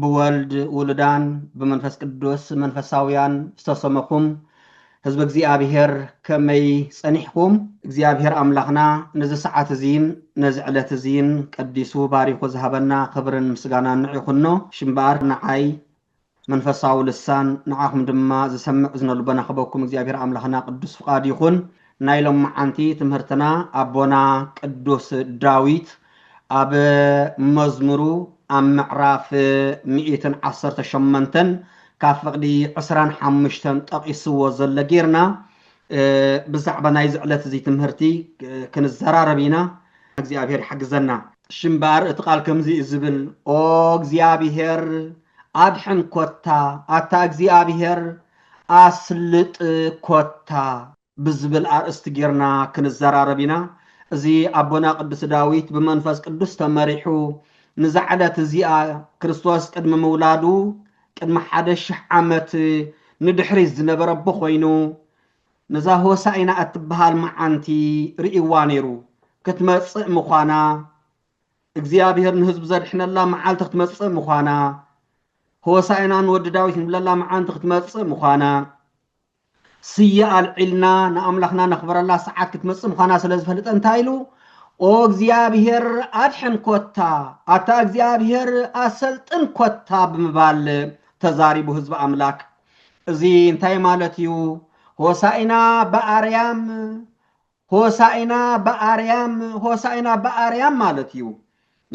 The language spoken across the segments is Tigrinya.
ብወልድ ውሉዳን ብመንፈስ ቅዱስ መንፈሳውያን ዝተሰመኹም ህዝበ እግዚኣብሔር ከመይ ጸኒሕኩም? እግዚኣብሔር ኣምላኽና ነዚ ሰዓት እዚን ነዚ ዕለት እዚን ቀዲሱ ባሪኹ ዝሃበና ክብርን ምስጋናን ንዑ ይኹኖ። ሽምበኣር ንዓይ መንፈሳዊ ልሳን ንዓኹም ድማ ዝሰምዕ እዝነ ልቦና ክህበኩም እግዚኣብሔር ኣምላኽና ቅዱስ ፍቃዱ ይኹን። ናይ ሎምዓንቲ ትምህርትና ኣቦና ቅዱስ ዳዊት ኣብ መዝሙሩ ኣብ ምዕራፍ ሚእትን ዓሰርተ ሸሞንተን ካብ ፍቕዲ ዕስራን ሓሙሽተን ጠቒስዎ ዘሎ ጌርና ብዛዕባ ናይዚ ዕለት እዚ ትምህርቲ ክንዘራረብ ኢና። እግዚኣብሔር ይሓግዘና። ሽምባር እቲ ቃል ከምዚ እዩ ዝብል ኦ እግዚኣብሔር ኣድሕን ኮታ ኣታ እግዚኣብሔር ኣስልጥ ኮታ። ብዝብል ኣርእስቲ ጌርና ክንዘራረብ ኢና። እዚ ኣቦና ቅዱስ ዳዊት ብመንፈስ ቅዱስ ተመሪሑ ንዛ ዕለት እዚኣ ክርስቶስ ቅድሚ ምውላዱ ቅድሚ ሓደ ሽሕ ዓመት ንድሕሪት ዝነበረ ኣቦ ኮይኑ ነዛ ሆሳኢና እትበሃል መዓንቲ ርእይዋ ነይሩ። ክትመጽእ ምዃና እግዚኣብሔር ንህዝቡ ዘድሕነላ መዓልቲ ክትመጽእ ምዃና ሆሳኢና ንወዲ ዳዊት ንብለላ መዓንቲ ክትመጽእ ምዃና ስየ ኣልዒልና ንኣምላኽና ነኽብረላ ሰዓት ክትመጽእ ምዃና ስለ ዝፈልጠ እንታይ ኢሉ ኦ እግዚኣብሔር ኣድሕን ኮታ ኣታ እግዚኣብሔር ኣሰልጥን ኮታ ብምባል ተዛሪቡ ህዝቢ ኣምላክ እዚ እንታይ ማለት እዩ ሆሳኢና ብኣርያም ሆሳኢና ብኣርያም ሆሳኢና ብኣርያም ማለት እዩ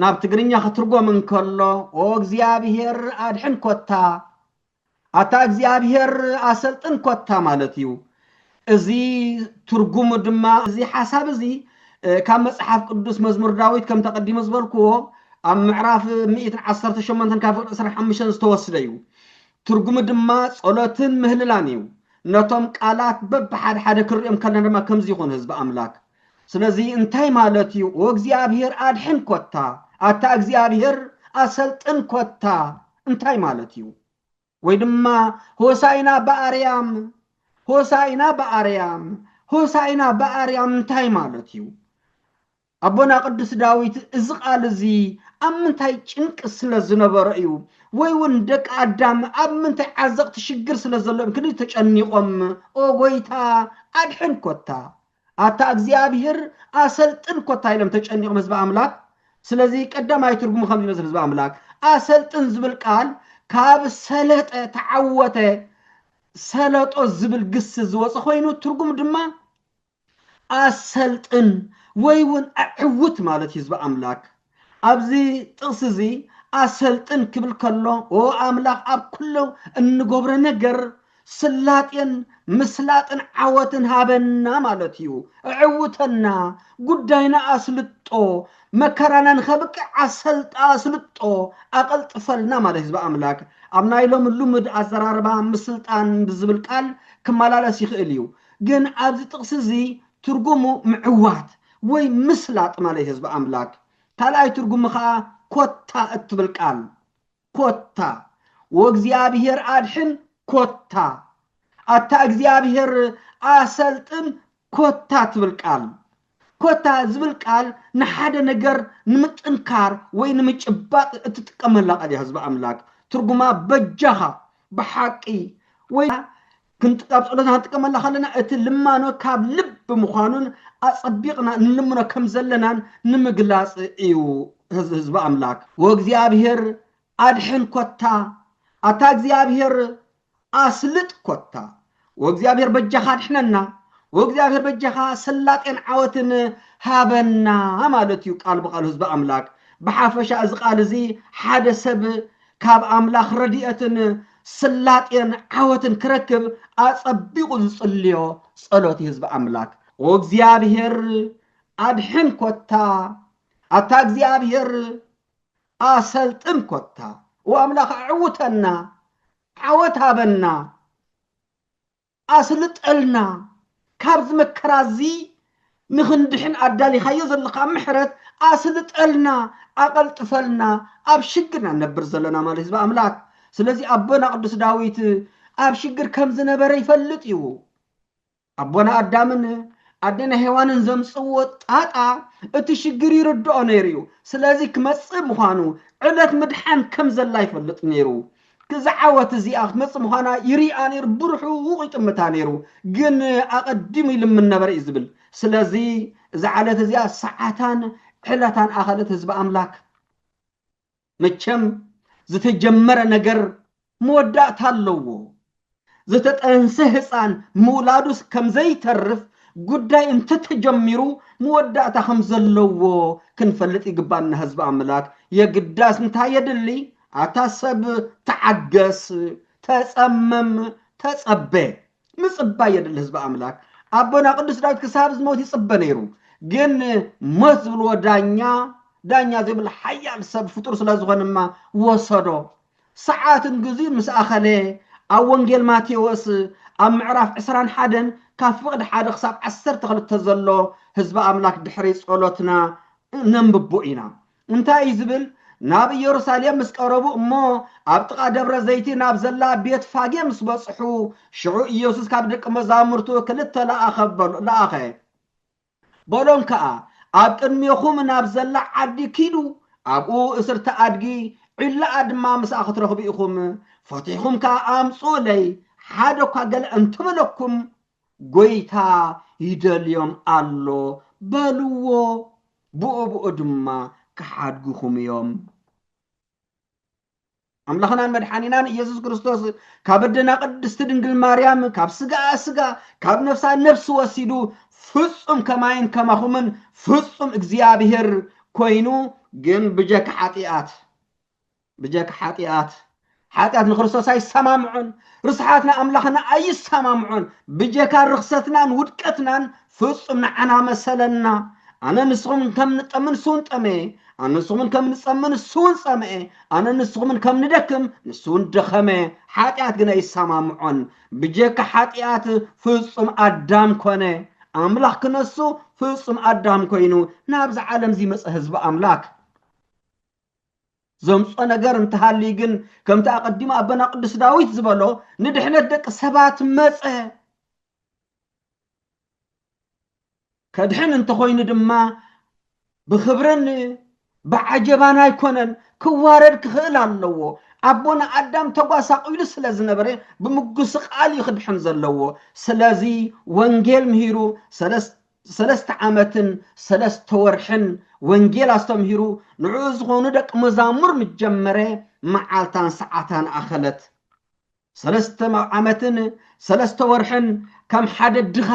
ናብ ትግርኛ ክትርጎም እንከሎ ኦ እግዚኣብሔር ኣድሕን ኮታ ኣታ እግዚኣብሔር ኣሰልጥን ኮታ ማለት እዩ። እዚ ትርጉሙ ድማ እዚ ሓሳብ እዚ ካብ መጽሓፍ ቅዱስ መዝሙር ዳዊት ከምቲ ኣቐዲመ ዝበልክዎ ኣብ ምዕራፍ ሚእትን ዓሰርተ ሸሞንተን ካብ ፍቅሪ ዕስራን ሓሙሽተን ዝተወስደ እዩ። ትርጉሙ ድማ ጸሎትን ምህልላን እዩ። ነቶም ቃላት በብሓደ ሓደ ክንሪኦም ከለና ድማ ከምዚ ይኹን ህዝቢ ኣምላክ። ስለዚ እንታይ ማለት እዩ? ኦ እግዚኣብሔር ኣድሕን ኮታ፣ ኣታ እግዚኣብሔር ኣሰልጥን ኮታ እንታይ ማለት እዩ? ወይ ድማ ሆሳኢና ብኣርያም ሆሳኢና ብኣርያም ሆሳኢና ብኣርያም እንታይ ማለት እዩ? ኣቦና ቅዱስ ዳዊት እዚ ቃል እዚ ኣብ ምንታይ ጭንቂ ስለ ዝነበረ እዩ ወይ እውን ደቂ ኣዳም ኣብ ምንታይ ዓዘቕቲ ሽግር ስለ ዘለዎም ክንዲ ተጨኒቖም ኦ ጎይታ ኣድሕን ኮታ ኣታ እግዚኣብሄር ኣሰልጥን ኮታ ኢሎም ተጨኒቆም ህዝቢ ኣምላክ ስለዚ ቀዳማይ ትርጉሙ ከምዚ ይመስል ህዝቢ ኣምላክ ኣሰልጥን ዝብል ቃል ካብ ሰለጠ ተዓወተ ሰለጦ ዝብል ግሲ ዝወፀ ኮይኑ ትርጉም ድማ ኣሰልጥን ወይ እውን ኣዕውት ማለት ህዝቢ ኣምላክ ኣብዚ ጥቕሲ እዚ ኣሰልጥን ክብል ከሎ ኦ ኣምላኽ ኣብ ኩሉ እንገብሮ ነገር ስላጤን ምስላጥን ዓወትን ሃበና ማለት እዩ። እዕውተና ጉዳይና ኣስልጦ መከራና ንኸብቅዕ ኣሰልጣ ኣስልጦ ኣቐልጥፈልና ማለት እዩ። ህዝቢ ኣምላክ ኣብ ናይ ሎሚ ልሙድ ኣዘራርባ ምስልጣን ብዝብል ቃል ክመላለስ ይኽእል እዩ። ግን ኣብዚ ጥቕሲ እዚ ትርጉሙ ምዕዋት ወይ ምስላጥ ማለት'ዩ ህዝቢ ኣምላክ። ካልኣይ ትርጉሙ ከኣ ኮታ እትብል ቃል፣ ኮታ ወእግዚኣብሔር ኣድኅን ኮታ ኣታ እግዚኣብሔር ኣሰልጥን ኮታ ትብል ቃል፣ ኮታ ዝብል ቃል ንሓደ ነገር ንምጥንካር ወይ ንምጭባጥ እትጥቀመላ ቃል እያ ህዝቢ ኣምላክ። ትርጉማ በጃኻ፣ ብሓቂ፣ ወይ ክንዲ ኣብ ጸሎትና ክንጥቀመላ ከለና እቲ ልማኖ ካብ ልቢ ምዃኑን ኣጸቢቕና እንልምኖ ከም ዘለናን ንምግላጽ እዩ ህዝቢ ኣምላክ ወእግዚኣብሔር ኣድሕን ኮታ ኣታ እግዚኣብሔር ኣስልጥ ኮታ ወእግዚኣብሔር በጃኻ ኣድሕነና ወእግዚኣብሔር በጃኻ ሰላጤን ዓወትን ሃበና ማለት እዩ ቃል ብቃሉ ህዝቢ ኣምላክ ብሓፈሻ እዚ ቃል እዚ ሓደ ሰብ ካብ ኣምላኽ ረድኤትን ስላጤን ዓወትን ክረክብ ኣጸቢቑ ዝጽልዮ ጸሎት እዩ ህዝቢ ኣምላክ ኦ እግዚኣብሔር ኣድሕን ኮታ ኣታ እግዚኣብሔር ኣሰልጥን ኮታ ኦ ኣምላኽ ኣዕውተና ዓወት ሃበና ኣስልጠልና ካብዚ መከራ እዚ ንኽንድሕን ኣዳሊኻዮ ዘለኻ ምሕረት ኣስልጠልና ኣቐልጥፈልና ኣብ ሽግር ኢና ንነብር ዘለና ማለት ህዝቢ ኣምላክ ስለዚ ኣቦና ቅዱስ ዳዊት ኣብ ሽግር ከም ዝነበረ ይፈልጥ እዩ ኣቦና ኣዳምን ኣዴና ሄዋንን ዘምፅዎ ጣጣ እቲ ሽግር ይርድኦ ነይሩ እዩ ስለዚ ክመፅእ ምዃኑ ዕለት ምድሓን ከም ዘላ ይፈልጥ ነይሩ ክዚ ዓወት እዚኣ ክትመጽእ ምዃና ይርኣ ነይሩ፣ ብርሑቕ ይጥምታ ነይሩ፣ ግን ኣቐዲሙ ይልምን ነበረ እዩ ዝብል። ስለዚ እዛ ዓለት እዚኣ ሰዓታን ዕለታን ኣኸለት ህዝቢ ኣምላክ። መቸም ዝተጀመረ ነገር መወዳእታ ኣለዎ። ዝተጠንሰ ህጻን ምውላዱስ ከም ዘይተርፍ ጉዳይ እንተተጀሚሩ መወዳእታ ከም ዘለዎ ክንፈልጥ ይግባና ህዝቢ ኣምላክ የግዳስ እንታይ የድሊ ኣታ ሰብ ተዓገስ ተጸመም ተጸበ ምጽባይ የድሊ ህዝቢ ኣምላክ ኣቦና ቅዱስ ዳዊት ክሳብ ዝሞት ይጽበ ነይሩ ግን ሞት ዝብልዎ ዳኛ ዳኛ ዘይብሉ ሓያል ሰብ ፍጡር ስለ ዝኾነማ ወሰዶ ሰዓትን ግዚኡን ምስ ኣኸለ፣ ኣብ ወንጌል ማቴዎስ ኣብ ምዕራፍ ዕስራን ሓደን ካብ ፍቕዲ ሓደ ክሳብ ዓሰርተ ክልተ ዘሎ ህዝቢ ኣምላክ ድሕሪ ጸሎትና እነንብቦ ኢና። እንታይ እዩ ዝብል? ናብ ኢየሩሳሌም ምስ ቀረቡ እሞ ኣብ ጥቓ ደብረ ዘይቲ ናብ ዘላ ቤት ፋጌ ምስ በጽሑ፣ ሽዑ ኢየሱስ ካብ ደቂ መዛሙርቱ ክልተ ለኣኸ በሎ ለኣኸ። በሎም ከኣ፣ ኣብ ቅድሜኹም ናብ ዘላ ዓዲ ኪዱ፣ ኣብኡ እስርቲ ኣድጊ፣ ዒላኣ ድማ ምስኣ ኽትረኽቡ ኢኹም፣ ፈቲሕኩም ከኣ ኣምጽኡለይ፣ ሓደ እኳ ገለ እንተ በለኩም፣ ጐይታ ይደልዮም ኣሎ በልዎ፣ ብኡብኡ ድማ ኪሓድጉኹም እዮም። ኣምላኽናን መድሓኒናን ኢየሱስ ክርስቶስ ካብ ኣደና ቅድስቲ ድንግል ማርያም ካብ ስጋኣ ስጋ ካብ ነፍሳ ነፍሲ ወሲዱ ፍጹም ከማይን ከማኹምን ፍጹም እግዚኣብሔር ኮይኑ ግን ብጀካ ሓጢኣት ብጀካ ሓጢኣት ሓጢኣት ንክርስቶስ ኣይሰማምዖን ርስሓት ንኣምላኽና ኣይሰማምዖን ብጀካ ርኽሰትናን ውድቀትናን ፍጹም ንዓና መሰለና፣ ኣነ ንስኹምን ከም ንጠምን ንሱውን ጠመየ፣ ኣነ ንስኹምን ከም ንጸምን ንሱውን ጸምኤ፣ ኣነ ንስኹምን ከም ንደክም ንሱውን ደኸመ። ሓጢኣት ግን ኣይሰማምዖን። ብጀካ ሓጢኣት ፍጹም ኣዳም ኮነ። ኣምላኽ ክነሱ ፍጹም ኣዳም ኮይኑ ናብዚ ዓለም ዝመጸ ህዝቢ ኣምላክ ዘምጾ ነገር እንተሃልዩ ግን ከምቲ ኣቐዲሙ ኣቦና ቅዱስ ዳዊት ዝበሎ ንድሕነት ደቂ ሰባት መጸ። ከድሕን እንተኾይኑ ድማ ብኽብርን ብዓጀባን ኣይኮነን ክዋረድ ክኽእል ኣለዎ ኣቦና ኣዳም ተጓሳቂሉ ስለ ዝነበረ ብምጉስቃል እዩ ክድሕን ዘለዎ ስለዚ ወንጌል ምሂሩ ሰለስተ ዓመትን ሰለስተ ወርሕን ወንጌል ኣስተምሂሩ ንዕኡ ዝኾኑ ደቂ መዛሙር ምጀመረ መዓልታን ሰዓታን ኣኸለት ሰለስተ ዓመትን ሰለስተ ወርሕን ከም ሓደ ድኻ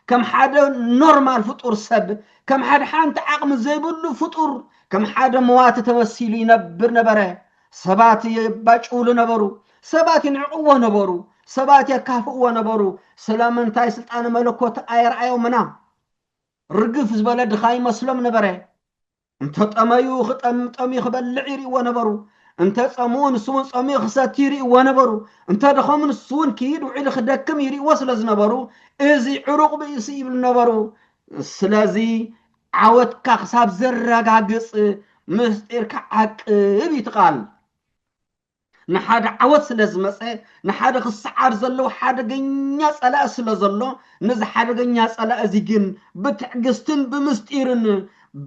ከም ሓደ ኖርማል ፍጡር ሰብ ከም ሓደ ሓንቲ ዓቕሚ ዘይብሉ ፍጡር ከም ሓደ መዋቲ ተመሲሉ ይነብር ነበረ። ሰባት የባጭውሉ ነበሩ፣ ሰባት ይንዕቕዎ ነበሩ፣ ሰባት የካፍእዎ ነበሩ። ስለምንታይ ስልጣነ መለኮት ኣየርኣዮምና? ርግፍ ዝበለ ድኻ ይመስሎም ነበረ። እንተ ጠመዩ ክጠም ጠምዩ ክበልዕ ይርእዎ ነበሩ። እንተ ጸምኡ ንሱውን ጸምኡ ክሰቲ ይርእዎ ነበሩ። እንተ ደኸሙ ንሱውን ክይድ ውዒሉ ክደክም ይርእዎ ስለ ዝነበሩ እዚ ዕሩቕ ብእሲ ይብሉ ነበሩ። ስለዚ ዓወትካ ክሳብ ዘረጋግጽ ምስጢርካ ዓቅብ እዩ እቲ ቃል። ንሓደ ዓወት ስለ ዝመጸ፣ ንሓደ ክሰዓር ዘለዎ ሓደገኛ ጸላኢ ስለ ዘሎ፣ ነዚ ሓደገኛ ጸላኢ እዚ ግን ብትዕግስትን ብምስጢርን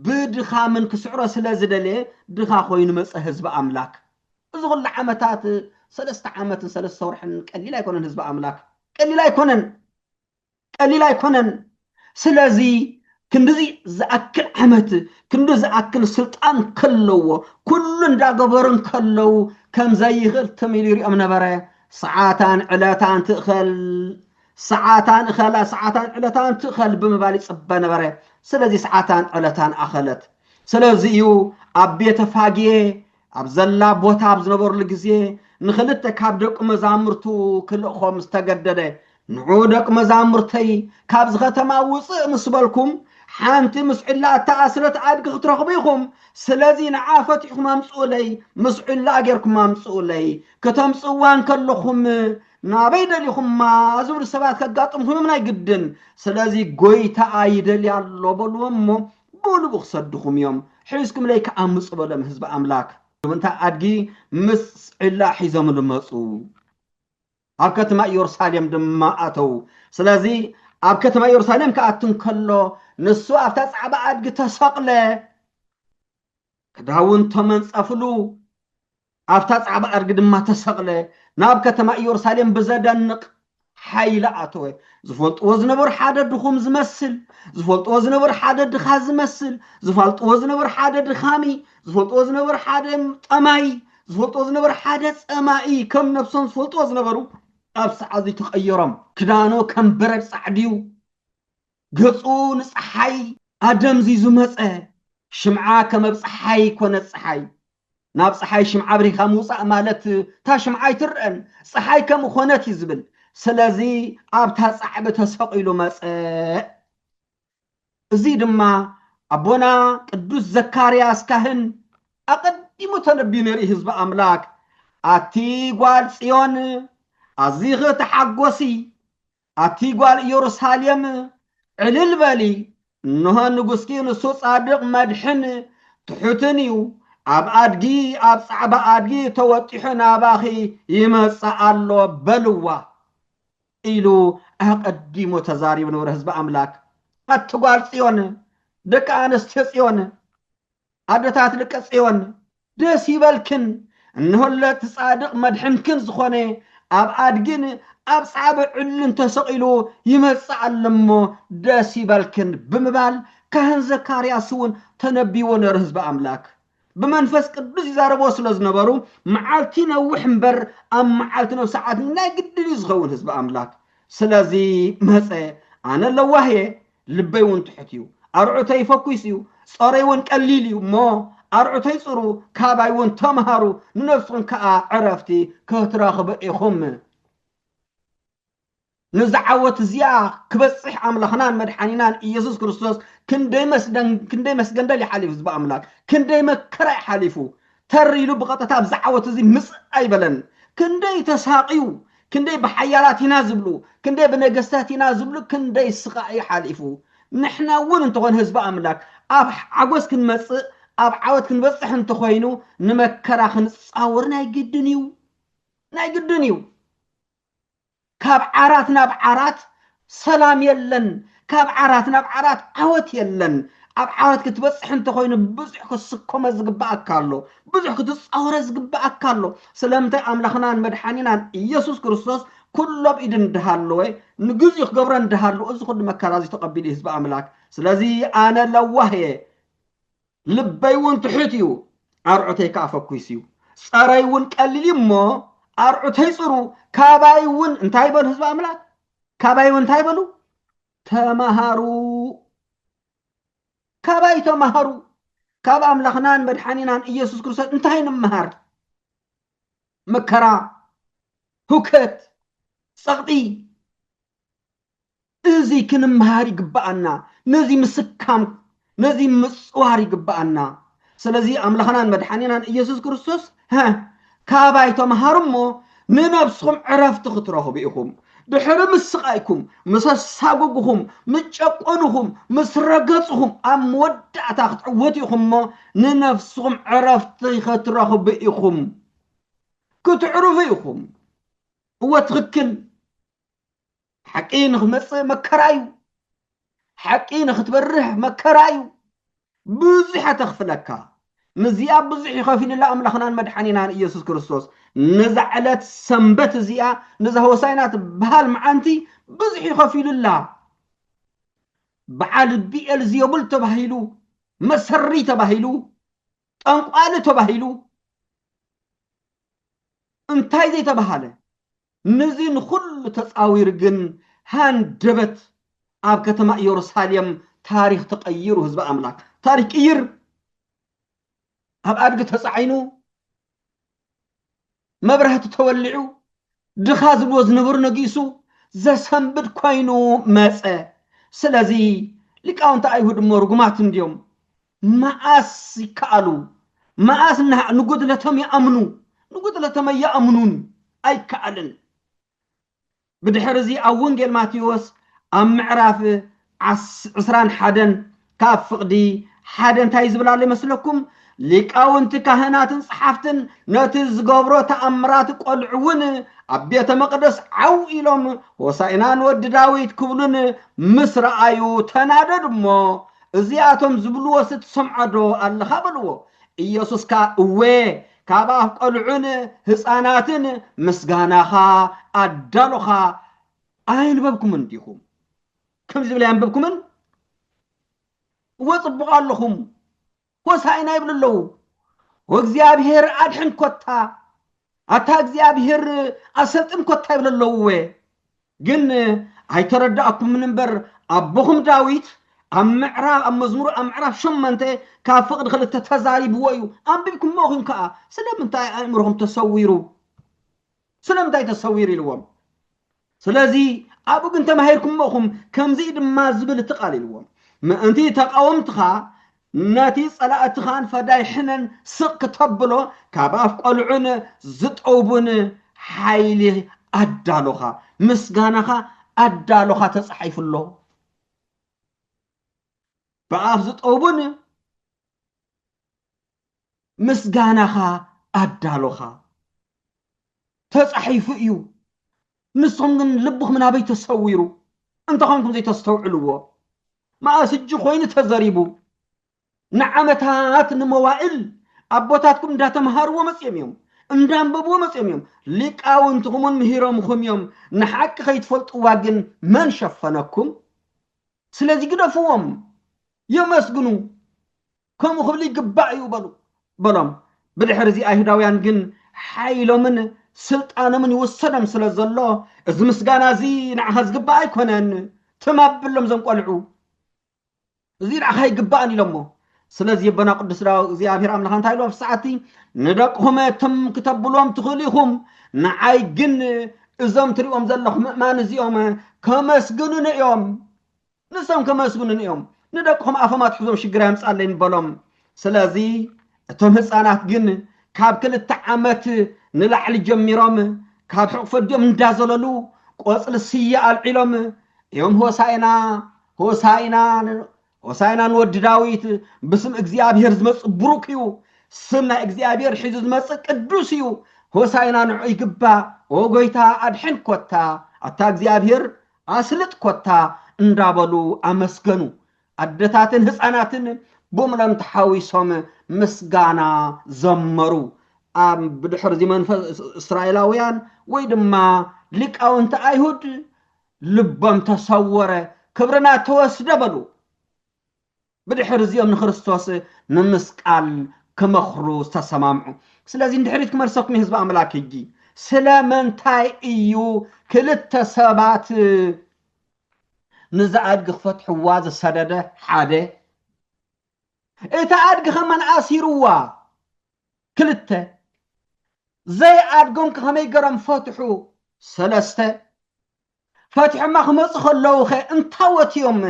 ብድኻምን ክስዕሮ ስለ ዝደለየ ድኻ ኮይኑ መጸ ህዝቢ ኣምላክ። እዚ ኩሉ ዓመታት ሰለስተ ዓመትን ሰለስተ ወርሕን ቀሊል ኣይኮነን ህዝቢ ኣምላክ ቀሊል ኣይኮነን። ቀሊል ኣይኮነን። ስለዚ ክንድዚ ዝኣክል ዓመት ክንዲ ዝኣክል ስልጣን ከለዎ ኩሉ እንዳገበሩ እንከለዉ ከም ዘይኽእል ትም ኢሉ ይሪኦም ነበረ። ሰዓታን ዕለታን ትእኸል ሰዓታን እኸላ ሰዓታን ዕለታን ትእኸል ብምባል ይጽበ ነበረ። ስለዚ ሰዓታን ዕለታን ኣኸለት። ስለዚ እዩ ኣብ ቤተ ፋጌ ኣብ ዘላ ቦታ ኣብ ዝነበርሉ ግዜ ንኽልተ ካብ ደቁ መዛምርቱ ክልእኾም ዝተገደደ ንዑ ደቂ መዛምርተይ ካብዚ ከተማ ውፅእ ምስ በልኩም ሓንቲ ምስ ዕላ እተኣስረት ኣድጊ ክትረኽቡ ኢኹም ስለዚ ንዓ ፈቲሕኩም ኣምፅኡለይ ምስ ዕላ ጌርኩም ኣምፅኡለይ ክተምፅእዋ እንከለኹም ናበይ ደሊኹማ ዝብሉ ሰባት ከጋጥምኹም እዮም ናይ ግድን ስለዚ ጎይታኣ ይደልያ ኣሎ በልዎ እሞ ብልቡ ክሰድኹም እዮም፣ ሒዝኩምለይ ከኣ ምጹ በሎም ህዝቢ ኣምላክ። እታ ኣድጊ ምስ ዒላ ሒዞምሉ መጹ፣ ኣብ ከትማ እዮርሳሌም ድማ ኣተዉ፣ ስለዚ ኣብ ከትማ እዮርሳሌም ክኣቱ እንከሎ ንሱ ኣብታ ጻዕባ ኣድጊ ተሰቕለ፣ ክዳውንቶ መንጸፍሉ፣ ኣብታ ጻዕዳ ኣድጊ ድማ ተሰቕለ፣ ናብ ከተማ ኢየሩሳሌም ብዘደንቕ ሓይሊ ኣተወ። ዝፈልጥዎ ዝነበሩ ሓደ ድኹም ዝመስል፣ ዝፈልጥዎ ዝነበሩ ሓደ ድኻ ዝመስል፣ ዝፋልጥዎ ዝነበሩ ሓደ ድኻሚ፣ ዝፈልጥዎ ዝነበሩ ሓደ ጠማይ፣ ዝፈልጥዎ ዝነበሩ ሓደ ጸማኢ፣ ከም ነብሶም ዝፈልጥዎ ዝነበሩ ኣብ ሰዓዚ ተቐየሮም። ክዳኑ ከም በረድ ጻዕድዩ፣ ገጹ ንጸሓይ ኣደምዚዙ መጸ፣ ሽምዓ ከመብ ጸሓይ ኮነት ጸሓይ፣ ናብ ጸሓይ ሽምዓ ኣብሪካ ምውጻእ ማለት እታ ሽምዓ ኣይትረኣን ጸሓይ ከምኾነት እዩ ዝብል ስለዚ ኣብታ ጻዕቢ ተሰቒሉ መጸ እዚ ድማ ኣቦና ቅዱስ ዘካርያስ ካህን ኣቐዲሙ ተነብዩ ነይሩ ህዝቢ ኣምላክ ኣቲ ጓል ጽዮን ኣዚኺ ተሓጎሲ ኣቲ ጓል ኢየሩሳሌም ዕልል በሊ፣ እንሆ ንጉስኪ ንሱ ጻድቕ መድሕን ትሑትን እዩ፣ ኣብ ኣድጊ ኣብ ጻዕዳ ኣድጊ ተወጢሑ ናባኺ ይመጽእ ኣሎ በልዋ ኢሉ ኣቐዲሙ ተዛሪቡ ነበረ ህዝቢ ኣምላክ። ኣቲ ጓል ጽዮን ደቂ ኣንስትዮ ጽዮን ኣደታት ደቀ ጽዮን ደስ ይበልክን እንሆለ እቲ ጻድቅ መድሕንክን ዝኾነ ኣብ ኣድግን ኣብ ጻዕበ ዕልን ተሰቂሉ ይመጽእ ኣሎ እሞ ደስ ይበልክን ብምባል ካህን ዘካርያስ እውን ተነቢዎ ነሩ ህዝቢ ኣምላክ ብመንፈስ ቅዱስ ይዛረቦ ስለ ዝነበሩ መዓልቲ ነውሕ እምበር ኣብ መዓልቲ ነው ሰዓት ናይ ግድን እዩ ዝኸውን ህዝቢ ኣምላክ ስለዚ መጸ ኣነ ለዋህ እየ ልበይ እውን ትሑት እዩ፣ ኣርዑተይ ፈኲስ እዩ፣ ጾረይ እውን ቀሊል እዩ እሞ፣ ኣርዑተይ ጽሩ፣ ካባይ እውን ተምሃሩ፣ ንነፍስኹም ከኣ ዕረፍቲ ክትረኽቡ ኢኹም። ነዛ ዓወት እዚኣ ክበጽሕ ኣምላኽናን መድሓኒናን ኢየሱስ ክርስቶስ ክንደይ መስገንደል ይሓሊፉ ህዝቢ ኣምላክ ክንደይ መከራ ይሓሊፉ ተር ኢሉ ብቐጥታ ኣብዚ ዓወት እዚ ምጽእ ኣይበለን። ክንደይ ተሳቕዩ፣ ክንደይ ብሓያላት ኢና ዝብሉ፣ ክንደይ ብነገስታት ኢና ዝብሉ ክንደይ ስቓይ እዩ ሓሊፉ። ንሕና እውን እንተኾነ ህዝቢ ኣምላክ ኣብ ዓጎስ ክንመጽእ ኣብ ዓወት ክንበጽሕ እንተኾይኑ ንመከራ ክንጻወር ናይ ግድን እዩ። ናይ ግድን እዩ። ካብ ዓራት ናብ ዓራት ሰላም የለን ካብ ዓራት ናብ ዓራት ዓወት የለን ኣብ ዓወት ክትበጽሕ እንተኾይኑ ብዙሕ ክትስከሞ ዝግብኣካ ኣሎ ብዙሕ ክትጻወረ ዝግብኣካ ኣሎ ስለምንታይ ኣምላኽናን መድሓኒናን ኢየሱስ ክርስቶስ ኩሉ ኣብ ኢድ እንዳሃለወ ንግዚኡ ክገብሮ እንዳሃለወ እዚ ኩሉ መከራ እዚ ተቐቢሉ ህዝቢ ኣምላክ ስለዚ ኣነ ለዋህ እየ ልበይ እውን ትሑት እዩ፣ ኣርዑተይ ከዓ ፈኲስ እዩ። ጸረይ እውን ቀሊል እዩ እሞ ኣርዑተይ ጽሩ፣ ካባይ እውን እንታይ በሉ ህዝቢ ኣምላኽ ካባይ እውን እንታይ በሉ ተማሃሩ ካባይ ተማሃሩ ካብ ኣምላኽናን መድሓኒናን ኢየሱስ ክርስቶስ እንታይ ንምሃር መከራ ሁከት ጸቕጢ እዚ ክንምሃር ይግብኣና ነዚ ምስካም ነዚ ምጽዋር ይግብኣና ስለዚ ኣምላኽናን መድሓኒናን ኢየሱስ ክርስቶስ ሀ ካባይ ተምሃሩ እሞ ንነብስኹም ዕረፍቲ ክትረኽቡ ኢኹም ድሕሪ ምስ ስቓይኩም ምስ ኣሳጉጉኹም ምስ ጨቆኑኹም ምስ ረገጽኹም ኣብ መወዳእታ ክትዕወቱ ኢኹም እሞ ንነፍስኹም ዕረፍቲ ክትረኽቡ ኢኹም ክትዕርፉ ኢኹም እወ ትኽክል ሓቂ ንክመፅእ መከራ እዩ ሓቂ ንክትበርህ መከራ እዩ ብዙሕ ኣተኽፍለካ ንዚኣ ብዙሕ ይኸፊልላ ኣምላኽናን መድሓኒናን ኢየሱስ ክርስቶስ ነዛ ዕለት ሰንበት እዚኣ ነዛ ሆሳይና ትበሃል መዓንቲ ብዙሕ ይኸፊሉላ በዓል ቢኤል ዝየቡል ተባሂሉ መሰሪ ተባሂሉ ጠንቋሊ ተባሂሉ እንታይ ዘይተባሃለ ንዚ ንኹሉ ተጻዊሩ ግን ሃንደበት ኣብ ከተማ ኢዮሩሳሌም ታሪኽ ተቐይሩ ህዝቢ ኣምላክ ታሪኽ ቅይር ኣብ ኣድጊ ተጻዒኑ መብራህቲ ተወሊዑ ድኻ ዝብልዎ ዝነበሩ ነጊሱ ዘሰንብድ ኮይኑ መጸ ስለዚ ሊቃውንቲ ኣይሁድ እሞ ርጉማት እንድዮም መኣስ ይከኣሉ መኣስ ነሃዕ ንጉድለቶም ይኣምኑ ንጉድለቶም ኣይኣምኑን ኣይከኣልን ብድሕሪ እዚ ኣብ ወንጌል ማቴዎስ ኣብ ምዕራፍ ዓስ ዕስራን ሓደን ካብ ፍቕዲ ሓደ እንታይ እዩ ዝብል ኣሎ ይመስለኩም ሊቃውንቲ ካህናትን ጸሓፍትን ነቲ ዝገብሮ ተኣምራት ቆልዑ እውን ኣብ ቤተ መቕደስ ዓው ኢሎም ሆሳኢና ንወዲ ዳዊት ክብሉን ምስ ረኣዩ ተናደዱ እሞ እዚኣቶም ዝብልዎሲ ትሰምዖዶ ኣለኻ? በልዎ። ኢየሱስ ከኣ እወ፣ ካብ ኣፍ ቈልዑን ህጻናትን ምስጋናኻ ኣዳሎኻ ኣየንበብኩምን ዲኹም? ከምዚ ዝብል ኣየንበብኩምን? እወ ጽቡቕ ኣለኹም፣ ሆሣዕና ይብሉ ኣለዉ። ወእግዚኣብሔር ኣድሕን ኮታ ኣታ እግዚኣብሔር ኣሰልጥን ኮታ ይብሉ ኣለዉ እወ ግን ኣይተረዳእኩምን እምበር ኣቦኹም ዳዊት ኣብ ምዕራብ ኣብ መዝሙር ኣብ ምዕራፍ ሸመንተ ካብ ፍቕዲ ክልተ ተዛሪብዎ እዩ ኣንቢብኩሞ ኢኹም ከዓ ስለምንታይ ኣእምሮኹም ተሰዊሩ ስለምንታይ ተሰዊሩ ኢልዎም ስለዚ ኣብኡ ግን ተማሂርኩሞ እኹም ከምዚ ድማ ዝብል እቲ ቃል ኢልዎም ምእንቲ ተቃወምትኻ ነቲ ጸላእትኻን ፈዳይ ሕነን ስቅ ክተብሎ ካብ ኣፍ ቆልዑን ዝጠውቡን ሓይሊ ኣዳሎኻ ምስጋናኻ ኣዳሎኻ ተጻሒፉ ኣሎ ብኣፍ ዝጠውቡን ምስጋናኻ ኣዳሎኻ ተጻሒፉ እዩ ንስኹም ግን ልብኹም ናበይ ተሰዊሩ እንተኾንኩም ዘይተስተውዕልዎ መኣስ እጅ ኮይኑ ተዘሪቡ ንዓመታት ንመዋእል ኣቦታትኩም እንዳተምሃርዎ መጽዮም እዮም እንዳንበብዎ መጽዮም እዮም ሊቃውንትኹምን ምሂሮምኹም እዮም ንሓቂ ከይትፈልጥዋ ግን መን ሸፈነኩም ስለዚ ግደፍዎም የመስግኑ ከምኡ ክብል ይግባእ እዩ በሉ በሎም። ብድሕሪ እዚ ኣይሁዳውያን ግን ሓይሎምን ስልጣኖምን ይውሰዶም ስለ ዘሎ እዚ ምስጋና እዚ ንዓኻ ዝግባእ ኣይኮነን ትም ኣብሎም ዘም ቆልዑ እዚ ንዓኻ ይግባእን ኢሎሞ ስለዚ ኣቦና ቅዱስ ዳው እግዚኣብሔር ኣምላኽ እንታይ ኢሉ ኣብ ሰዓቲ ንደቅኹም ትም ክተብልዎም ትኽእሉ ኢኹም ንዓይ ግን እዞም ትሪኦም ዘለኹም ምእማን እዚኦም ከመስግኑኒ እዮም ንሶም ከመስግኑኒ እዮም ንደቅኹም ኣፎም ኣትሕዞም ሽግር ኣየምጻለይ ንበሎም ስለዚ እቶም ህጻናት ግን ካብ ክልተ ዓመት ንላዕሊ ጀሚሮም ካብ ሕቕፊ ኣዲኦም እንዳዘለሉ ቆጽሊ ስየ ኣልዒሎም እዮም ሆሳኢና ሆሳኢና ሆሳኢና ንወዲ ዳዊት ብስም እግዚኣብሔር ዝመጽእ ብሩክ እዩ ስም ናይ እግዚኣብሔር ሒዙ ዝመጽእ ቅዱስ እዩ ሆሳኢና ንዑ ይግባእ ኦ ጎይታ ኣድሕን ኮታ ኣታ እግዚኣብሔር ኣስልጥ ኮታ እንዳበሉ ኣመስገኑ። ኣደታትን ህጻናትን ብሙሎም ተሓዊሶም ምስጋና ዘመሩ። ኣብ ብድሕርዚ መንፈስ እስራኤላውያን ወይ ድማ ሊቃውንቲ ኣይሁድ ልቦም ተሰወረ፣ ክብርና ተወስደ በሉ። ብድሕሪ እዚኦም ንክርስቶስ ምምስቃል ክመክሩ ዝተሰማምዑ። ስለዚ ንድሕሪት ክመልሰኩም እዩ ህዝቢ ኣምላክ ሕጂ ስለምንታይ እዩ ክልተ ሰባት ንዛ ኣድጊ ክፈትሕዋ ዝሰደደ ሓደ እታ ኣድጊ ከመን ኣሲርዋ ክልተ ዘይ ኣድጎም ከመይ ገሮም ፈትሑ ሰለስተ ፈትሖማ ክመጹ ከለዉኸ እንታዎት'ዮም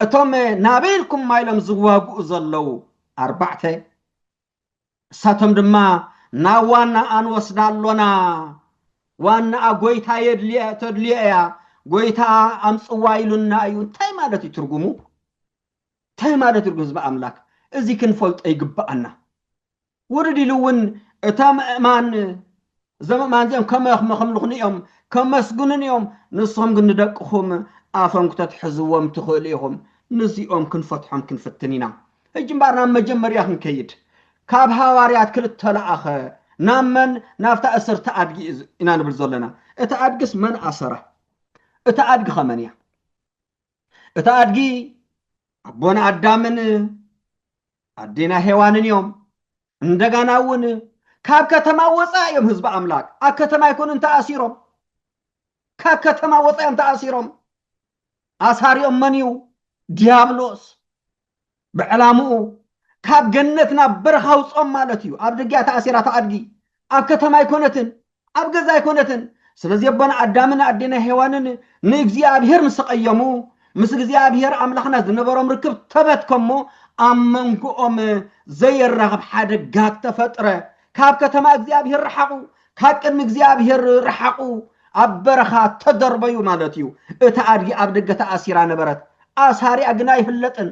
እቶም ናበይ ኢልኩማ ኢሎም ዝዋግኡ ዘለዉ ኣርባዕተ? ንሳቶም ድማ ናብ ዋናኣ ንወስዳ ኣሎና፣ ዋናኣ ጎይታ ተድልዮ እያ፣ ጎይታ ኣምጽዋ ኢሉና እዩ፣ እንታይ ማለት እዩ ትርጉሙ? እንታይ ማለት እዩ ህዝቢ ኣምላክ እዚ ክንፈልጦ ይግብኣና። ውርድ ኢሉ እውን እታ ምእማን እዞም እማን እዚኦም ከመ ክመክምልኹኒ እዮም ከመስግኑን እዮም ንስኹም ግን ንደቅኹም ኣፎም ክተትሕዝዎም ትኽእሉ ኢኹም ንዚኦም ክንፈትሖም ክንፍትን ኢና ሕጂ እምበኣር ናብ መጀመርያ ክንከይድ ካብ ሃዋርያት ክልተ ለኣኸ ናብ መን ናብታ እስርቲ ኣድጊ ኢና ንብል ዘለና እቲ ኣድግስ መን ኣሰራ እቲ ኣድጊ ኸመን እያ እቲ ኣድጊ ኣቦና ኣዳምን ኣዴና ሄዋንን እዮም። እንደጋና እውን ካብ ከተማ ወፃ እዮም ህዝቢ ኣምላክ ኣብ ከተማ ኣይኮኑን ተኣሲሮም ካብ ከተማ ወፃ እዮም ተኣሲሮም ኣሳሪኦም መን እዩ ዲያብሎስ ብዕላምኡ ካብ ገነት ናብ በረኻ ኣውጽኦም ማለት እዩ። ኣብ ደጊኣ ተኣሲራ እታ ኣድጊ ኣብ ከተማ ኣይኮነትን፣ ኣብ ገዛ ኣይኮነትን። ስለዚ ኣቦና ኣዳምን ኣዴና ሄዋንን ንእግዚኣብሄር ምስ ተቐየሙ ምስ እግዚኣብሄር ኣምላኽና ዝነበሮም ርክብ ተበትከሞ ኣብ መንጎኦም ዘየራኽብ ሓደጋ ተፈጥረ። ካብ ከተማ እግዚኣብሄር ረሓቑ፣ ካብ ቅድሚ እግዚኣብሄር ረሓቑ፣ ኣብ በረኻ ተደርበዩ ማለት እዩ። እታ ኣድጊ ኣብ ደገ ተኣሲራ ነበረት፣ ኣሳሪኣ ግን ኣይፍለጥን።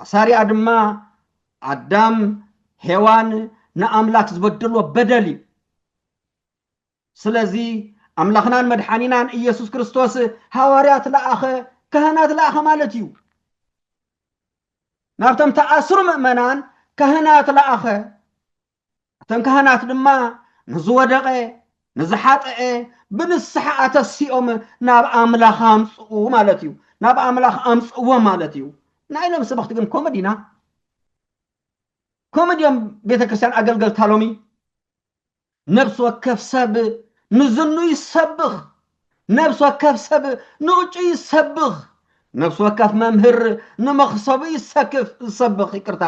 ኣሳሪኣ ድማ ኣዳም፣ ሄዋን ንኣምላክ ዝበደልዎ በደል እዩ። ስለዚ ኣምላኽናን መድሓኒናን ኢየሱስ ክርስቶስ ሃዋርያት ለኣኸ፣ ካህናት ለኣኸ ማለት እዩ። ናብቶም ተኣስሩ ምእመናን ካህናት ለኣኸ፣ እተን ካህናት ድማ ንዝወደቐ ንዝሓጠዐ ብንስሓ ኣተሲኦም ናብ ኣምላኽ ኣምጽኡ ማለት እዩ ናብ ኣምላኽ ኣምጽእዎ ማለት እዩ ናይ ሎም ሰበኽቲ ግን ከምኡ ዲና ከምኡ ድዮም ቤተ ክርስቲያን ኣገልገልታ ሎሚ ነብሲ ወከፍ ሰብ ንዝኑ ይሰብኽ ነብሲ ወከፍ ሰብ ንእጩ ይሰብኽ። ነብሲ ወከፍ መምህር ንመኽሰቡ ይሰክፍ፣ ዝሰብኽ፣ ይቅርታ፣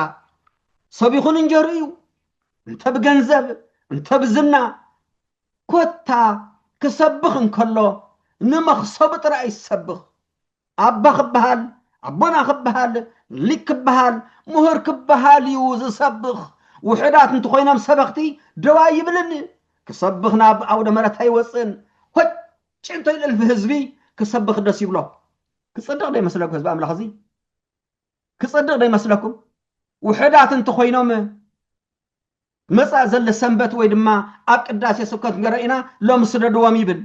ሰቢኹ ንእንጀርኡ እዩ። እንተ ብገንዘብ እንተ ብዝና ኮታ ክሰብኽ እንከሎ ንመኽሰቡ ጥራይ ይሰብኽ። ኣባ ክበሃል፣ ኣቦና ክበሃል፣ ሊቅ ክበሃል፣ ምሁር ክበሃል እዩ ዝሰብኽ። ውሑዳት እንተኾይኖም ሰበኽቲ ደው ኣይብልን። ክሰብኽ ናብ ኣውደ ምሕረት ኣይወጽእን። ሆጭ እንተኢሉ እልፊ ህዝቢ ክሰብኽ ደስ ይብሎ። ክጽድቕ ዶ ይመስለኩም ህዝቢ ኣምላኽ እዚ? ክጽድቕ ዶ ይመስለኩም? ውሑዳት እንተኾይኖም መጻኢ ዘለ ሰንበት ወይ ድማ ኣብ ቅዳሴ ስብከት ንገረ ኢና ሎም ስደድዎም ይብል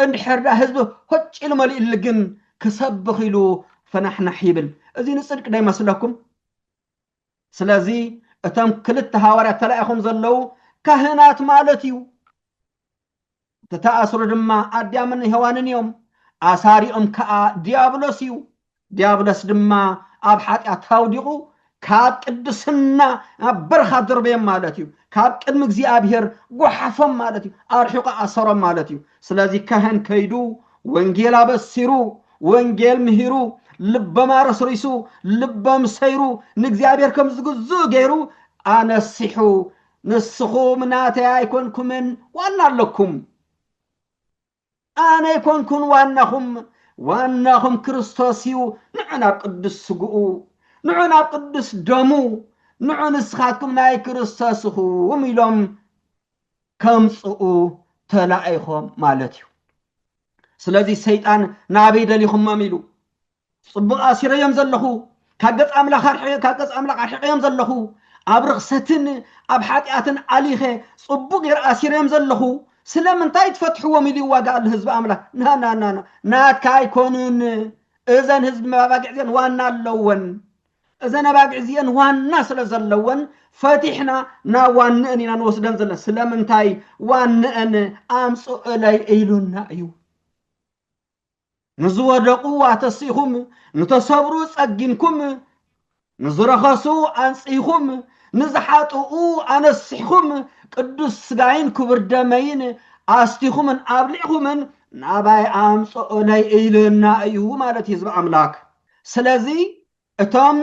እንድሕር ዳ ህዝቢ ሆጭ ኢሉ መሊእሊ ግን ክሰብኽ ኢሉ ፈናሕናሕ ይብል እዚ ንጽድቂ ዶ ይመስለኩም ስለዚ እቶም ክልተ ሃዋርያት ተላኢኹም ዘለዉ ካህናት ማለት እዩ ዝተኣስሩ ድማ ኣዳምን ሄዋንን እዮም። ኣሳሪኦም ከኣ ድያብሎስ እዩ። ድያብሎስ ድማ ኣብ ሓጢኣት ኣውዲቑ ካብ ቅድስና ናብ በረኻ ኣደርበዮም ማለት እዩ። ካብ ቅድሚ እግዚኣብሄር ጓሓፎም ማለት እዩ። ኣርሒቑ ኣሰሮም ማለት እዩ። ስለዚ ካህን ከይዱ ወንጌል ኣበሲሩ፣ ወንጌል ምሂሩ፣ ልቦም ኣረስሪሱ፣ ልቦም ሰይሩ፣ ንእግዚኣብሄር ከም ዝግዝኡ ገይሩ ኣነሲሑ ንስኹም ናተይ ኣይኮንኩምን ዋና ኣለኩም ኣነ ኣይኮንኩን ዋናኹም ዋናኹም ክርስቶስ እዩ ንዑ ናብ ቅዱስ ስግኡ ንዑ ናብ ቅዱስ ደሙ ንዑ ንስኻትኩም ናይ ክርስቶስ እኹም ኢሎም ከምፅኡ ተላኢኾም ማለት እዩ ስለዚ ሰይጣን ናበይ ደሊኹሞም ኢሉ ጽቡቕ ኣሲረዮም ዘለኹ፣ ካብ ገጽ ኣምላኽ ኣርሒ ካብ ገጽ ኣምላኽ ኣርሒቐዮም ዘለኹ፣ ኣብ ርኽሰትን ኣብ ሓጢኣትን ኣሊኸ ጽቡቕ ገይረ ኣሲረዮም ዘለኹ፣ ስለምንታይ ትፈትሕዎም ኢሉ ይዋጋእ ኣሎ ህዝቢ ኣምላኽ። ናናናና ናትካ ኣይኮኑን እዘን ህዝቢ መባጊዕ እዚአን ዋና ኣለወን። እዘን ኣባጊዕ እዚአን ዋና ስለ ዘለወን ፈቲሕና ናብ ዋንአን ኢና ንወስደን ዘለና። ስለምንታይ ዋንአን ኣምጽእለይ ኢሉና እዩ። ንዝወደቑ ኣተሲእኹም፣ ንተሰብሩ ጸጊንኩም፣ ንዝረኸሱ ኣንጽህኩም፣ ንዝሓጥኡ ኣነሲሕኩም፣ ቅዱስ ስጋይን ክቡር ደመይን ኣስቲኹምን ኣብሊዕኹምን ናባይ ኣምጽኡለይ ኢሉና እዩ ማለት እዩ ህዝቢ ኣምላክ። ስለዚ እቶም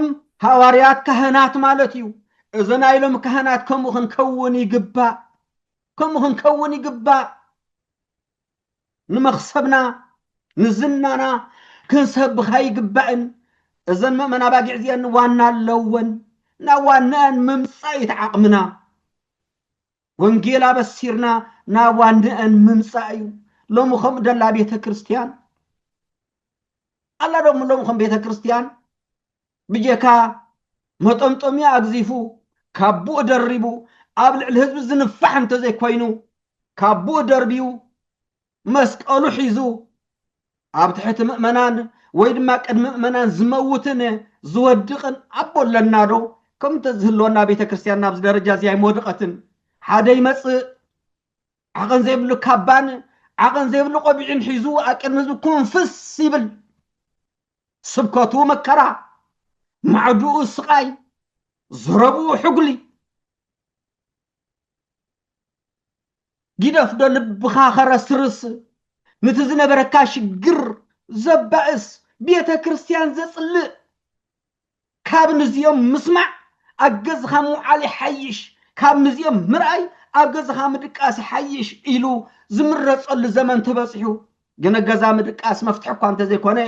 ሃዋርያት ካህናት ማለት እዩ። እዚ ናይ ሎም ካህናት ከምኡ ክንከውን ይግባእ፣ ከምኡ ክንከውን ይግባእ። ንመኽሰብና ንዝናና ክንሰብኽ ኣይግባእን። እዘን መእመን ኣባጊዕ እዚአን ዋና ኣለወን። ናብ ዋንኣን ምምጻእ እዩ እቲ ዓቕምና። ወንጌል ኣበሲርና ናብ ዋንኣን ምምጻእ እዩ። ሎሚ ከምኡ ደላ ቤተ ክርስቲያን ኣላ ዶም ሎሚ ከም ቤተ ክርስቲያን ብጀካ መጠምጠምያ ኣግዚፉ ካቡኡ ደሪቡ ኣብ ልዕሊ ህዝቢ ዝንፋሕ እንተዘይኮይኑ ካቡኡ ደርብዩ መስቀሉ ሒዙ ኣብ ትሕቲ ምእመናን ወይ ድማ ቅድሚ ምእመናን ዝመውትን ዝወድቕን ኣቦ ኣለና ዶ ከም እንተዝህልወና ቤተ ክርስቲያን ናብዚ ደረጃ እዚ ኣይመወድቐትን ሓደ ይመፅእ ዓቐን ዘይብሉ ካባን ዓቐን ዘይብሉ ቆቢዕን ሒዙ ኣብ ቅድሚ ህዝቢ ኩንፍስ ይብል ስብከቱ መከራ፣ ማዕድኡ ስቓይ፣ ዘረብኡ ሕጉሊ። ጊደፍ ዶ ልብኻ ከረስርስ ንቲ ዝነበረካ ሽግር ዘባእስ ቤተ ክርስቲያን ዘጽልእ ካብ ንዚኦም ምስማዕ ኣብ ገዝኻ ምውዓል ይሓይሽ፣ ካብ ንዚኦም ምርኣይ ኣብ ገዝኻ ምድቃስ ይሓይሽ ኢሉ ዝምረጸሉ ዘመን ተበጺሑ። ግነ ገዛ ምድቃስ መፍትሒ እኳ እንተዘይኮነ፣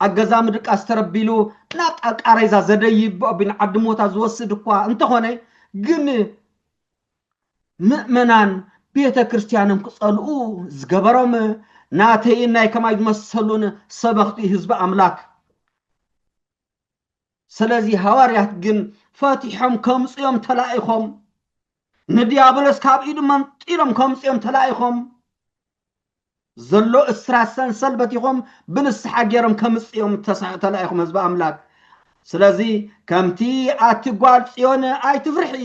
ኣብ ገዛ ምድቃስ ተረቢሉ ናብጣ ቃሬዛ ዘደይብ ብኦቢ ንዓዲ ሞታ ዝወስድ እኳ እንተኾነ ግን ምእመናን ቤተ ክርስቲያኖም ክጸልኡ ዝገበሮም ናተይን ናይ ከማይ ዝመሰሉን ሰበኽቲ ህዝቢ ኣምላክ ስለዚ ሃዋርያት ግን ፈቲሖም ከምጽኦም ተላኢኾም ንዲያብሎስ ካብ ኢዱ መንጢሎም ከምጽኦም ተላኢኾም ዘሎ እስራት ሰንሰል በቲኾም ብንስሓ ገይሮም ከምጽኦም ተላኢኹም ህዝቢ ኣምላክ ስለዚ ከምቲ ኣቲ ጓል ጽዮን ኣይትፍርሒ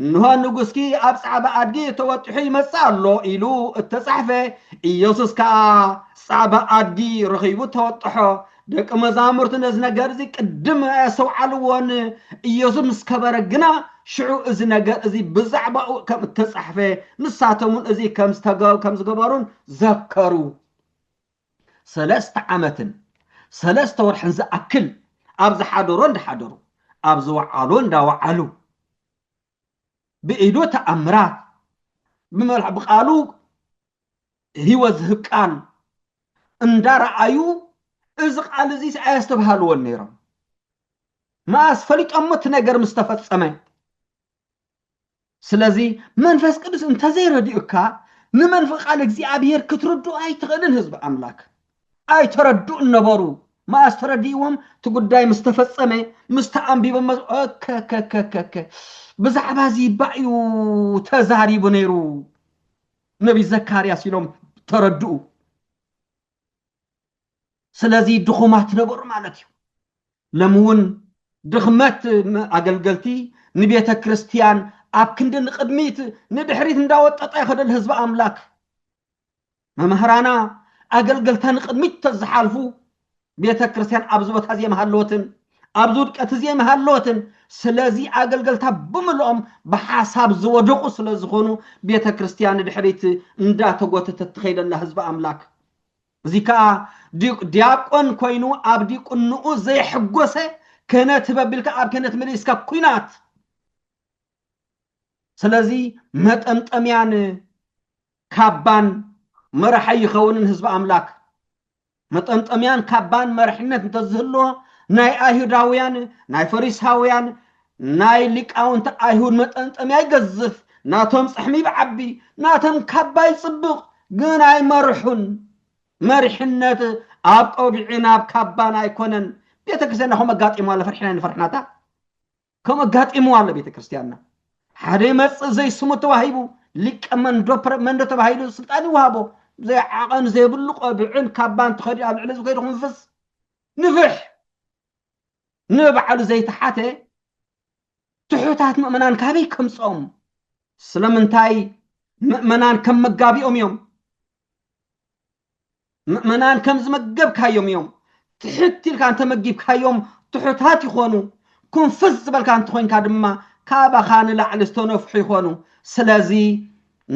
እንሆ ንጉስኪ ኣብ ጻዕዳ ኣድጊ ተወጢሑ ይመጽእ ኣሎ ኢሉ እተጻሕፈ፣ ኢየሱስ ከኣ ጻዕዳ ኣድጊ ረኺቡ ተወጥሖ። ደቂ መዛሙርቲ ነዚ ነገር እዚ ቅድም ኣየስተውዓልዎን፣ ኢየሱስ ምስ ከበረ ግና ሽዑ እዚ ነገር እዚ ብዛዕባኡ ከም እተጻሕፈ ንሳቶምውን እዚ ከም ዝተገ ከም ዝገበሩን ዘከሩ። ሰለስተ ዓመትን ሰለስተ ወርሕን ዝኣክል ኣብ ዝሓደሮ እንዳሓደሩ ኣብ ዝወዓሎ እንዳወዓሉ ብኢዱ ተኣምራት ብመልሕ ብቃሉ ህይወት ዝህብ ቃል እንዳረኣዩ እዚ ቃል እዚ ኣየስተብሃልዎን ነይሮም መኣስ ፈሊጦሞ እቲ ነገር ምስ ተፈጸመ ስለዚ መንፈስ ቅዱስ እንተዘይረዲኡካ ንመንፈስ ቃል እግዚኣብሔር ክትርድኡ ኣይትኽእልን ህዝቢ ኣምላክ ኣይተረድኡን ነበሩ መኣስ ተረዲእዎም እቲ ጉዳይ ምስ ተፈጸመ ምስ ተኣንቢቦ ከከከከከ ብዛዕባ እዚ ባእ እዩ ተዛሪቡ ነይሩ ነቢይ ዘካርያስ ኢሎም ተረድኡ ስለዚ ድኹማት ነበሩ ማለት እዩ። ሎሚ እውን ድኽመት ኣገልገልቲ ንቤተ ክርስቲያን ኣብ ክንዲ ንቕድሚት ንድሕሪት እንዳወጠጠ ይኸደል ህዝቢ ኣምላክ መምህራና ኣገልገልታ ንቕድሚት ተዝሓልፉ ቤተ ክርስቲያን ኣብዚ ቦታ እዚኦም ሃለወትን ኣብዚ ውድቀት እዚ ኣይምሃለወትን። ስለዚ ኣገልገልታ ብምልኦም ብሓሳብ ዝወደቑ ስለ ዝኾኑ ቤተ ክርስቲያን ንድሕሪት እንዳተጎተተት ትኸይድ ኣላ ህዝቢ ኣምላክ። እዚ ከኣ ዲያቆን ኮይኑ ኣብ ዲቁንኡ ዘይሕጎሰ ክህነት ህበቢልካ ኣብ ክህነት ምልእስካ ኩናት ስለዚ መጠምጠምያን ካባን መራሒ ይኸውንን ህዝቢ ኣምላክ መጠምጠምያን ካባን መርሕነት እንተዝህልዎ ናይ ኣይሁዳውያን ናይ ፈሪሳውያን ናይ ሊቃውንቲ ኣይሁድ መጠምጠምያ ይገዝፍ ናቶም ጽሕሚ ይብዓቢ ናቶም ካባ ይጽብቕ ግን ኣይመርሑን መሪሕነት ኣብ ቆቢዕን ኣብ ካባን ኣይኮነን ቤተ ክርስቲያን ናኹም ኣጋጢሞ ኣለ ፍርሕና ንፈርሕናታ ከምኡ ኣጋጢምዋ ኣሎ ቤተ ክርስቲያንና። ሓደ ይመጽእ ዘይስሙ ተዋሂቡ ሊቀ መንዶፕረ መንዶ ተባሂሉ ስልጣን ይወሃቦ ዘይዓቐን ዘይብሉ ቆብዕን ካባን ተኸዲኡ ኣብ ልዕሊ ዝኸይዱ ክንፍስ ንፍሕ ንባዕሉ ዘይተሓተ ትሑታት ምእመናን ካበይ ከምፅኦም ስለምንታይ ምእመናን ከም መጋቢኦም እዮም ምእመናን ከም ዝመገብካዮም እዮም ትሕት ኢልካ እንተመጊብካዮም ትሑታት ይኾኑ ኩንፍስ ዝበልካ እንተኾይንካ ድማ ካባኻ ንላዕሊ ዝተነፍሑ ይኾኑ ስለዚ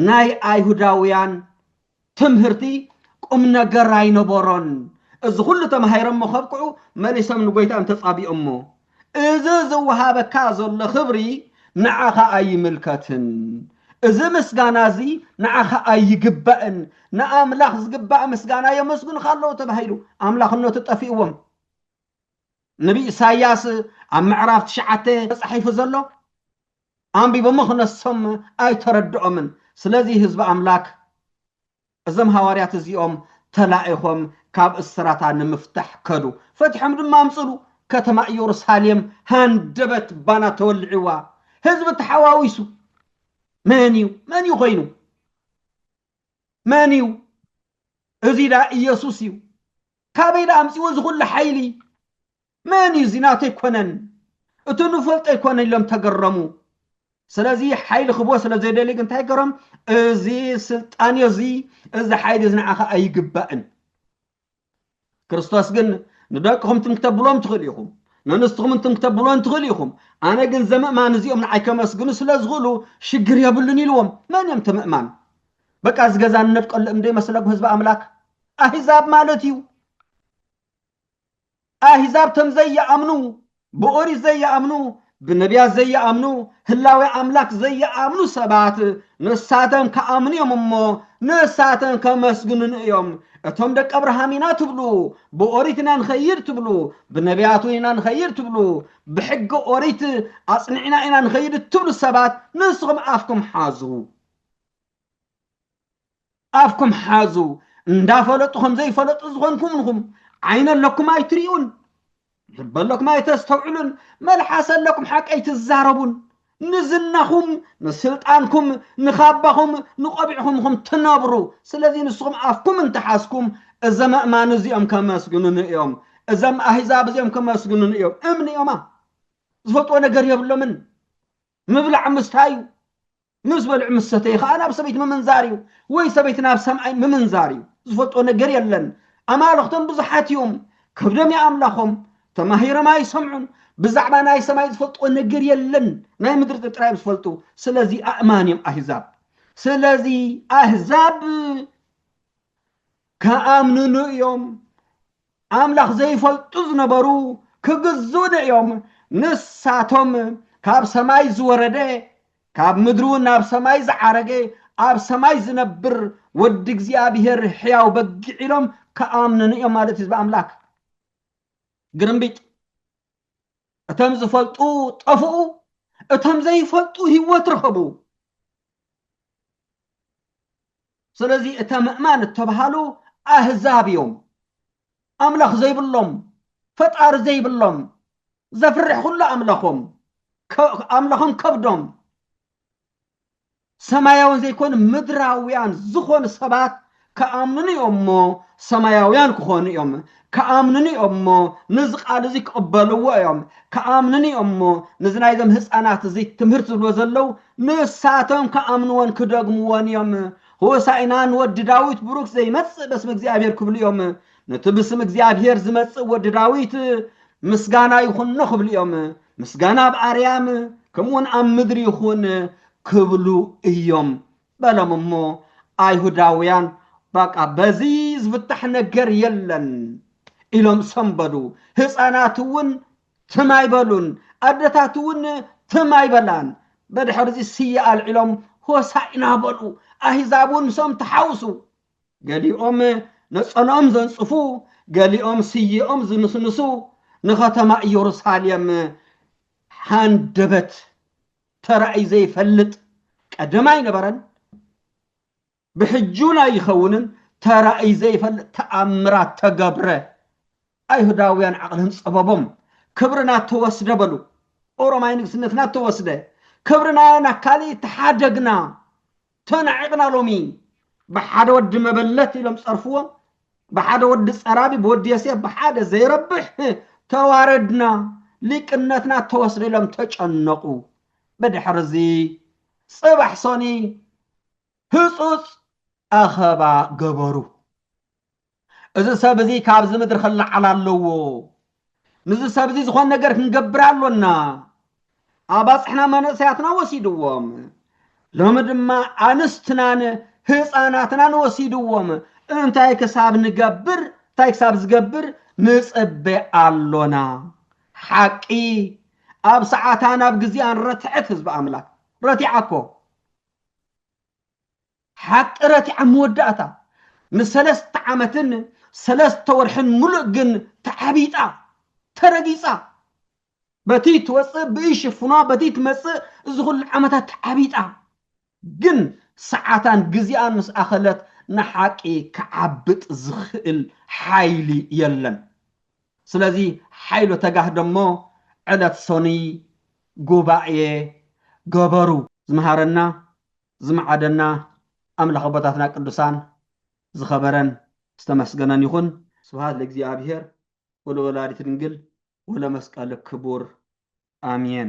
ናይ ኣይሁዳውያን ትምህርቲ ቁም ነገር ኣይነበሮን እዚ ኩሉ ተማሂሮሞ ከብቅዑ መሊሶም ንጎይታ እንተጻቢኦሞ እዚ ዝወሃበካ ዘሎ ክብሪ ንዓኻ ኣይምልከትን። እዚ ምስጋና እዚ ንዓኻ ኣይግባእን። ንኣምላኽ ዝግባእ ምስጋና የመስግኑኻ ኣለዉ ተባሂሉ ኣምላኽነቱ ጠፊእዎም። ነቢይ ኢሳይያስ ኣብ ምዕራፍ ትሽዓተ ተጻሒፉ ዘሎ ኣንቢቦሞ ክነሶም ኣይተረድኦምን። ስለዚ ህዝቢ ኣምላክ እዞም ሃዋርያት እዚኦም ተላኢኾም ካብ እስራታ ንምፍታሕ ከዱ። ፈቲሖም ድማ ኣምጽሉ። ከተማ እዮሩሳሌም ሃንደበት ባና ተወልዒዋ። ህዝቢ ተሓዋዊሱ። መን እዩ? መን እዩ ኮይኑ? መን እዩ? እዚ ዳ ኢየሱስ እዩ። ካበይ ዳ ኣምጺዎ ዝኹሉ ሓይሊ? መን እዩ እዚ ናቱ ኣይኮነን እቱ ንፈልጦ ኣይኮነን ኢሎም ተገረሙ ስለዚ ሓይሊ ክህቦ ስለ ዘይደልዩ ግን እንታይ ገሮም እዚ ስልጣን እዮ እዚ እዚ ሓይሊ እዚ ንዓኻ ኣይግባእን ክርስቶስ ግን ንደቅኹም ትም ክተብሎም ትኽእሉ ኢኹም ንንስትኹም እንትም ክተብሎን ትኽእሉ ኢኹም ኣነ ግን ዘምእማን እዚኦም ንዓይ ከመስግኑ ስለ ዝኽእሉ ሽግር የብሉን ኢልዎም መን እዮም ተምእማን በቃ እዚ ገዛ ንነድቀሉ እምደይ መስለኩም ህዝቢ ኣምላክ ኣህዛብ ማለት እዩ ኣህዛብ ተም ዘይኣምኑ ብኦሪት ዘይኣምኑ ብነብያት ዘይኣምኑ ህላዌ ኣምላክ ዘይኣምኑ ሰባት ንሳተም ክኣምኑ እዮም እሞ ንሳተም ከመስግኑን እዮም እቶም ደቂ ኣብርሃም ኢና ትብሉ ብኦሪት ኢና ንኸይድ ትብሉ ብነብያት ኢና ንኸይድ ትብሉ ብሕጊ ኦሪት ኣጽኒዕና ኢና ንኸይድ እትብሉ ሰባት ንስኹም ኣፍኩም ሓዙ ኣፍኩም ሓዙ እንዳፈለጡ ከምዘይፈለጡ ዝኾንኩም ንኹም ዓይነ ኣለኩም ኣይትሪኡን ልበ ኣለኩም ኣይተስተውዕሉን መልሓሰ ኣለኩም ሓቂ ኣይትዛረቡን ንዝናኹም ንስልጣንኩም ንኻባኹም ንቆቢዕኹም ኹም ትነብሩ ስለዚ ንስኹም ኣፍኩም እንተሓዝኩም እዘም ኣእማን እዚኦም ከመስግኑን እዮም እዘም ኣህዛብ እዚኦም ከመስግኑን እዮም እምኒ እዮማ ዝፈልጥዎ ነገር የብሎምን ምብላዕ ምስታይ እዩ ምስ በልዑ ምስ ሰተዩ ከኣ ናብ ሰበይቱ ምምንዛር እዩ ወይ ሰበይቲ ናብ ሰምኣይ ምምንዛር እዩ ዝፈልጦ ነገር የለን ኣማልኽቶም ብዙሓት እዮም ከብዶም ይኣምላኾም ተማሂሮም ኣይሰምዑን ብዛዕባ ናይ ሰማይ ዝፈልጥዎ ነገር የለን ናይ ምድሪ ጥጥራ እዮም ዝፈልጡ ስለዚ ኣእማን እዮም ኣህዛብ ስለዚ ኣህዛብ ከኣምንኑ እዮም ኣምላኽ ዘይፈልጡ ዝነበሩ ክግዝኡኒ እዮም፣ ንሳቶም ካብ ሰማይ ዝወረደ ካብ ምድሪ እውን ናብ ሰማይ ዝዓረገ ኣብ ሰማይ ዝነብር ወዲ እግዚኣብሄር ሕያው በጊዕ ኢሎም ክኣምኑኒ እዮም ማለት እዩ ህዝቢ ኣምላክ ግርምቢጥ እቶም ዝፈልጡ ጠፍኡ፣ እቶም ዘይፈልጡ ህይወት ረኸቡ። ስለዚ እተ ምእማን እተብሃሉ ኣህዛብ እዮም። ኣምላኽ ዘይብሎም፣ ፈጣሪ ዘይብሎም፣ ዘፍርሕ ኩሉ ኣምላኾም ኣምላኾም ከብዶም ሰማያውን ዘይኮኑ ምድራውያን ዝኾኑ ሰባት ክኣምኑኒ እዮም እሞ ሰማያውያን ክኾኑ እዮም ክኣምኑኒ እዮም እሞ ነዚ ቃል እዚ ክቕበልዎ እዮም ክኣምኑኒ እዮም እሞ ነዚ ናይዞም ህፃናት እዚ ትምህርቲ ዝብሎ ዘለው ንሳቶም ክኣምንዎን ክደግምዎን እዮም ሆሳኢና ንወዲ ዳዊት ብሩክ ዘይመጽእ በስመ እግዚኣብሔር ክብሉ እዮም ነቲ ብስም እግዚኣብሔር ዝመጽእ ወዲ ዳዊት ምስጋና ይኹኖ ክብሉ እዮም ምስጋና ኣብ ኣርያም ከምኡውን ኣብ ምድሪ ይኹን ክብሉ እዮም በሎም እሞ ኣይሁዳውያን በቃ በዚ ዝፍታሕ ነገር የለን ኢሎም ሰንበዱ ህፃናት እውን ትም ኣይበሉን ኣደታት እውን ትም ኣይበላን በድሕርዚ ስየ ኣልዒሎም ሆሳኢና በሉ ኣህዛብ እውን ምሶም ተሓውሱ ገሊኦም ነጸልኦም ዘንጽፉ፣ ገሊኦም ስየኦም ዝንስንሱ፣ ንኸተማ ኢየሩሳሌም ሃንደበት ተራእዩ ዘይፈልጥ ቀደም ኣይነበረን፣ ብሕጁን ኣይኸውንን ተራእዩ ዘይፈልጥ ተኣምራት ተገብረ። ኣይሁዳውያን ዓቕልን ጸበቦም ክብርና ተወስደ በሉ። ኦሮማይ ንግስነትና ተወስደ፣ ክብርና ናካሊ ተሓደግና ተናዒቕና ሎሚ ብሓደ ወዲ መበለት ኢሎም ጸርፍዎ ብሓደ ወዲ ጸራቢ ብወዲ የሴፍ ብሓደ ዘይረብሕ ተዋረድና ሊቅነትና ተወስደ ኢሎም ተጨነቑ ብድሕሪ እዚ ጽባሕ ሰኑይ ህጹጽ ኣኸባ ገበሩ እዚ ሰብ እዚ ካብዚ ምድሪ ክለዓል ኣለዎ፣ ምስዚ ሰብ እዚ ዝኾነ ነገር ክንገብር ኣሎና። ኣባጽሕና መንእሰያትና ወሲድዎም፣ ሎሚ ድማ ኣንስትናን ህጻናትናን ወሲድዎም፣ እንታይ ክሳብ ንገብር እንታይ ክሳብ ዝገብር ንጽበ ኣሎና። ሓቂ ኣብ ሰዓታን ኣብ ግዜኣን ረትዐት ህዝቢ ኣምላክ ረቲዓኮ። ሓቅረቲ ኣብ መወዳእታ ንሰለስተ ዓመትን ሰለስተ ወርሕን ምሉእ ግን ተዓቢጣ፣ ተረጊጻ። በቲ ትወጽእ ብእይ ሽፍኗ፣ በቲ ትመጽእ እዚ ኩሉ ዓመታት ተዓቢጣ። ግን ሰዓታን ግዜኣን ምስ ኣኸለት ንሓቂ ክዓብጥ ዝኽእል ሓይሊ የለን። ስለዚ ሓይሎ ተጋህደሞ ዕለት ሰኑይ ጉባኤ ገበሩ። ዝመሃረና ዝምዓደና ኣምላኽ ኣቦታትና ቅዱሳን ዝኸበረን ዝተመስገነን ይኹን። ስብሃት ለእግዚኣብሔር ወለወላዲቱ ድንግል ወለመስቀሉ ክቡር ኣሜን።